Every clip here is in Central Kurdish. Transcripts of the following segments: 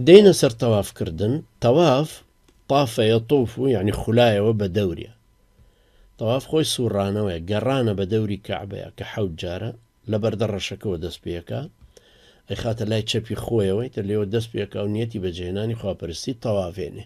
دێنە سەر تەواف کردن، تەواف، طاف یطوف، یانی خولایەوە بە دەوریا. تەواف خۆی سوڕانەوەیە، گەڕانە بە دەوری کەعبەیە کە حەوت جارە، لە بەردە ڕەشەکەوە دەست پێکا، ئەیخاتە لای چەپی خۆیەوە، ئیتر لێوە دەست پێکا و نیەتی بەجێهێنانی خواپەرستی تەواڤێنێ.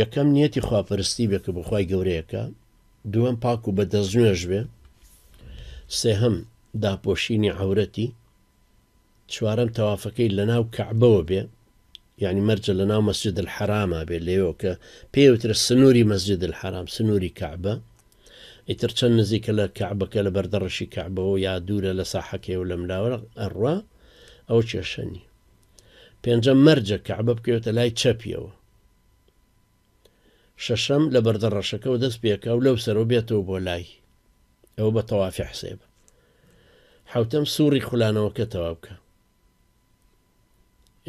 یەکەم نیەتی خواپەرستی بێ کە بۆ خوای گەورەیە کا دووەم پاک و بە دەست نوێژ بێ سێهەم داپۆشینی عورەتی چوارەم تەوافەکەی لە ناو کەعبەوە بێ یعنی مەرجە لە ناو مەسجد الحرامە بێ لێەوە کە پێوترە سنووری مەسجد الحرام سنووری کەعبە ئیتر چەند نزیکە لە کەعبەکە لە بەردەڕشی کەعبەوە یا دوورە لە ساحەکەی و لەم لاوە ئەڕوا ئەو کێشەنی پێنجەم مەرجە کەعبە بکەوێتە لای چەپیەوە. شەشەم لە بەردە ڕەشەکەەوە دەست پێکا و لەو سەرەوە بێتەوە بۆ لای ئەوە بە تەوافی حسێبە حوتەم سوڕی خولانەوەکە تەوا بکە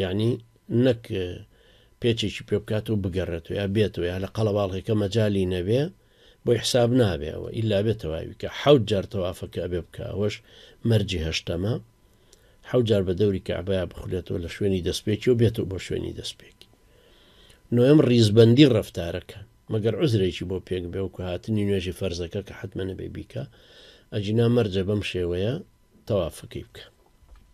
یعنی نەک پێچێکی پێ بکات و بگەڕێت و یا بێتەوە یا لە قەڵەواڵێکە مەجای نەبێ بۆی حساب نابێەوە ئللا بێتەواوی کە حوت جار تەوافەکە ئەبێ بکە ئەوەش مەرجی هەشتەمە حەوت جار بە دەوری کەعبەیا بخولێتەوە لە شوێنی دەستپێکی و بێتەوە بۆ شوێنی دەستپێکی نۆیەم ڕیزبەندی ڕەفتارەکە مەگەر عوزرێکی بۆ پێک بێ وەکو هاتنی نوێژی فەرزەکە کە حەتمە نەبێ بیکا ئەگینا مەرجە بەم شێوەیە تەوافەکەی بکە.